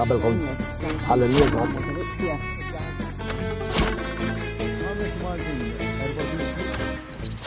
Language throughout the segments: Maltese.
Qabel kont għal-lum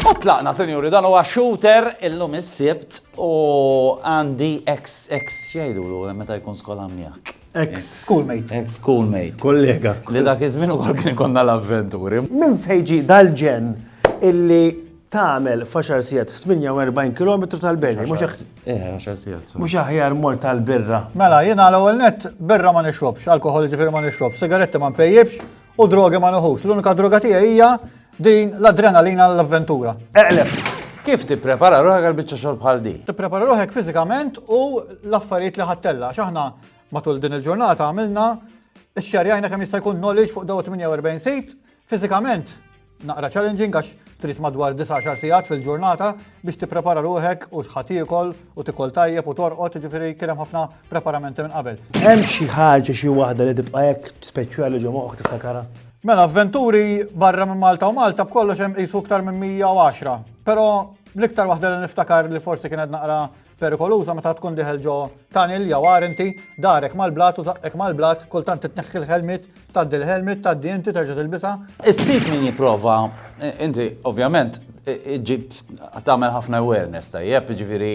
U tlaqna, senjuri, dan huwa shooter illum is-sibt u għandi ex ex xejdu l meta jkun skola miegħek. Ex schoolmate. Ex schoolmate. Kollega. Li dak iż-żmien ukoll kien konna l-avventuri. Minn fejġi dal-ġen illi tagħmel f'għaxar sigħat 48 kilometru tal-beni, mhux aħjar. Eh, għaxar sigħat. Mhux aħjar mor tal-birra. Mela, jiena l-ewwel net birra ma nixrobx, alkohol ġifieri ma nixrobx, sigaretti ma npejjibx u drogi ma nuħux. L-unika droga tiegħi hija din l-adrenalina l-avventura. Eqleb. Kif tipprepara ruħek għal biċċa xogħol bħal di? Tipprepara ruħek fiżikament u l-affarijiet li ħattella. X'aħna matul din il-ġurnata għamilna x-xerjajna kemm jista' jkun knowledge fuq daw 48 sit, fiżikament Naqra challenging għax trid madwar 19 sigħat fil-ġurnata biex tipprepara ruħek u x'ħa tiekol u tikol tajjeb u torqod, ġifieri kien hemm ħafna preparamenti minn qabel. Hemm xi ħaġa xi waħda li tibqa' hekk speċjali ġo moħħok tiftakarha? Mela avventuri barra minn Malta u Malta b'kollox hemm qisu iktar minn 110, però l-iktar waħda li niftakar li forsi kienet naqra Perikoluża meta tkun diħel ġo tunnel jew arinti, darek mal-blat u zaqqek mal-blat, kultant titneħħi l-ħelmit, tgħaddi l-ħelmit, tgħaddi inti terġa' tilbisa. Issib min jipprova, inti ovvjament ġib tagħmel ħafna awareness tajjeb, ġifieri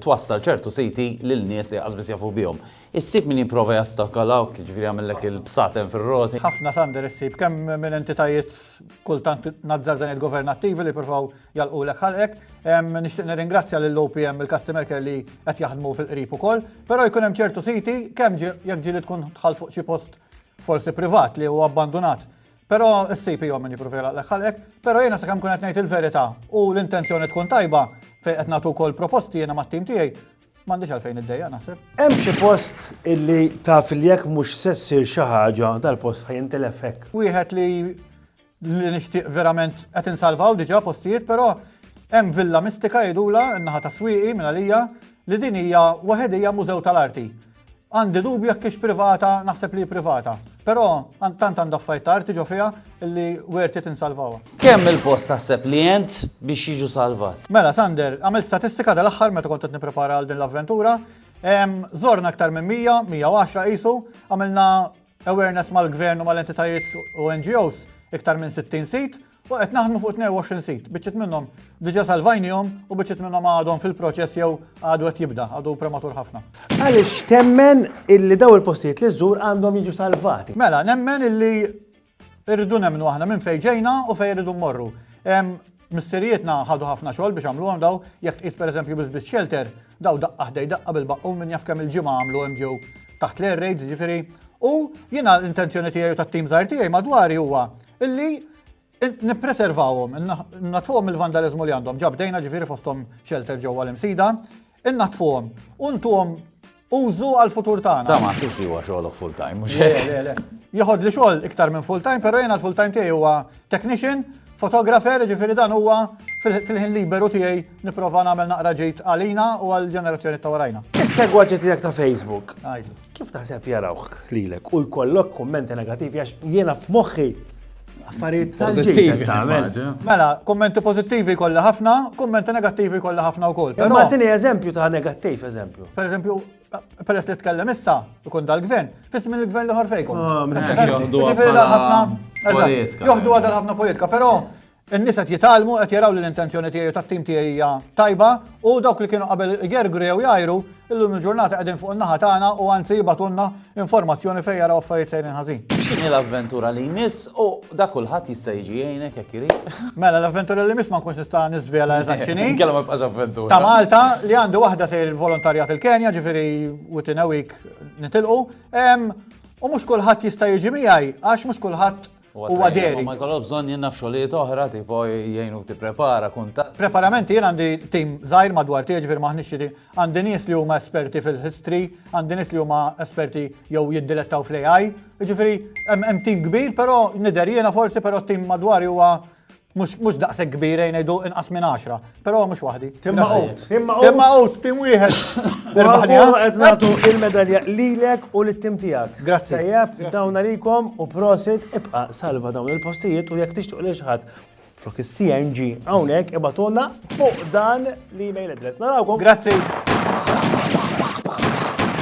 twassal ċertu siti lil nies li qasbis jafu bihom. Issib min jipprova jastakalawk, ġifieri jagħmellek il-bsaten fir-roti. Ħafna sander issib kemm minn entitajiet kultant nazzar dan il-governattivi li provaw jagħlqulek ħalqek. Nixtieq nirringrazzja lil OPM il-Customer Care li qed jaħdmu fil-qrib ukoll, però jkun hemm ċertu siti kemm jekk ġieli tkun tħall fuq xi post forsi privat li huwa abbandunat. Però issib jom min jippruvi jagħlaqlek ħalqek, però jiena sakemm kun qed ngħid il-verità u l-intenzjoni tkun tajba fejn qed nagħtu wkoll proposti jiena mat-tim tiegħi, m'għandix għalfejn iddejja naħseb. Hemm xi post illi taf li jekk mhux se ssir xi ħaġa dal-post ħajintilef hekk. Wieħed li Li nixtieq verament qed insalvaw diġà postijiet però hemm villa mistika jgħidula n-naħa ta' Swieqi minn għalija li din hija waħedija mużew tal-arti. Għandi dubju jekk hix privata, naħseb li hi privata. Però tant għandha affarijiet ta' arti ġo fiha li worth it insalvawha. Kemm il-post taħseb li għent biex jiġu salvat? Mela Sander, għamilt statistika dal-aħħar meta kont qed nipprepara għal din l-avventura. Żorna aktar minn 100, 110 qisu, għamilna Awareness mal-Gvern u mal-entitajiet u NGOs, iktar minn 60 sit, u qed naħdmu fuq 22 sit, biċċiet minnhom diġà salvajnihom u biċċiet minnhom għadhom fil-proċess jew għadu qed jibda, għadu prematur ħafna. Għaliex temmen illi dawn il-postijiet li żżur għandhom jiġu salvati? Mela, nemmen illi rridu nemmnu aħna minn fejn ġejna u fejn irridu mmorru. Missirijietna ħadu ħafna xogħol biex għamluhom daw, jekk tqis pereżempju bis-Sbiss Shelter, daw daqqa ħdej daqqa bil-baqqun min jaf kemm il-ġimgħa għamlu hemm ġew taħt l-air raids jiġifieri. U jiena l-intenzjoni tiegħi u tat-tim żgħir tiegħi madwari huwa illi nippreservawhom, natfuhom mill-vandaliżmu li għandhom. Ġa bdejna ġifieri fosthom shelter ġewwa l-Imsida, Innaddfuhom u ntuhom użu għall-futur tagħna. Ta' ma ħsibx li huwa xogħolok full time, mhux Le, hekk? le, le. Joħod li xogħol iktar minn full time, però jiena l-full time tiegħi huwa technician, photographer, ġifieri dan huwa fil- fil-ħin liberu tiegħi nipprova nagħmel naqra ġid għalina u għall-ġenerazzjoni ta' warajna. Is-segwaġġi tiegħek ta' Facebook. Għajdu. Kif taħseb jarawk lilek u jkollok kummenti negativi għax jiena f'moħħi affarijiet tal-ġejjin tagħmel. Mela, kummenti pożittivi kollha ħafna, kummenti negattivi kollha ħafna wkoll. Però tini eżempju ta' negattiv eżempju. Per eżempju, peress li tkellem issa, ikun dal-gvern, fis minn il-gvern liħor fejkom. Ah, Joħdu għadal ħafna politika. Joħdu għadal ħafna politika, però In-nies qed jitgħallmu, qed jaraw li l-intenzjoni tiegħi u tat-tim tiegħi hija tajba u dawk li kienu qabel igergru jew jgħajru, illum il-ġurnata qegħdin fuq in-naħa tagħna u anzi jibgħatulna informazzjoni fejn jaraw affarijiet sejrin ħażin. X'inhi l-avventura li jmiss u da kulħadd jista' jiġi jgħinek jekk irid? Mela l-avventura li jmiss ma nkunx nista' niżvela eżatt x'inhi. Inkella ma jibqax avventura. Ta' Malta li għandi waħda sejr il-volontarjat il-Kenja, ġifieri within a week nitilqu. U mhux kulħadd jista' jiġi miegħi għax mhux kulħadd Huwa deri. Ma jkollok bżonn jien naf xogħlijiet oħra tipo jgħinu tipprepara kuntatt. Preparamenti jien għandi tim żgħir madwar tiegħi ġifier m'aħniex xi għandi nies li huma esperti fil-history, għandi nies li huma esperti jew jiddilettaw fl-AI, jiġifieri hemm tim kbir però nidher jiena forsi però tim madwari huwa Mhux daqshekk kbir ejn ngħidu inqas minn 10, però mhux waħdi. Timma out, timma out. Timma out, tim wieħed. Irbaħnija. Qed nagħtu il-medalja lilek u lit-tim tiegħek. Grazzi. Tajjeb, dawn għalikom u prosit ibqa' salva dawn il-postijiet u jekk tixtuq lil xħat flok il-CNG għawnek ibatonna fuq dan l-email address. Narawkom. Grazzi.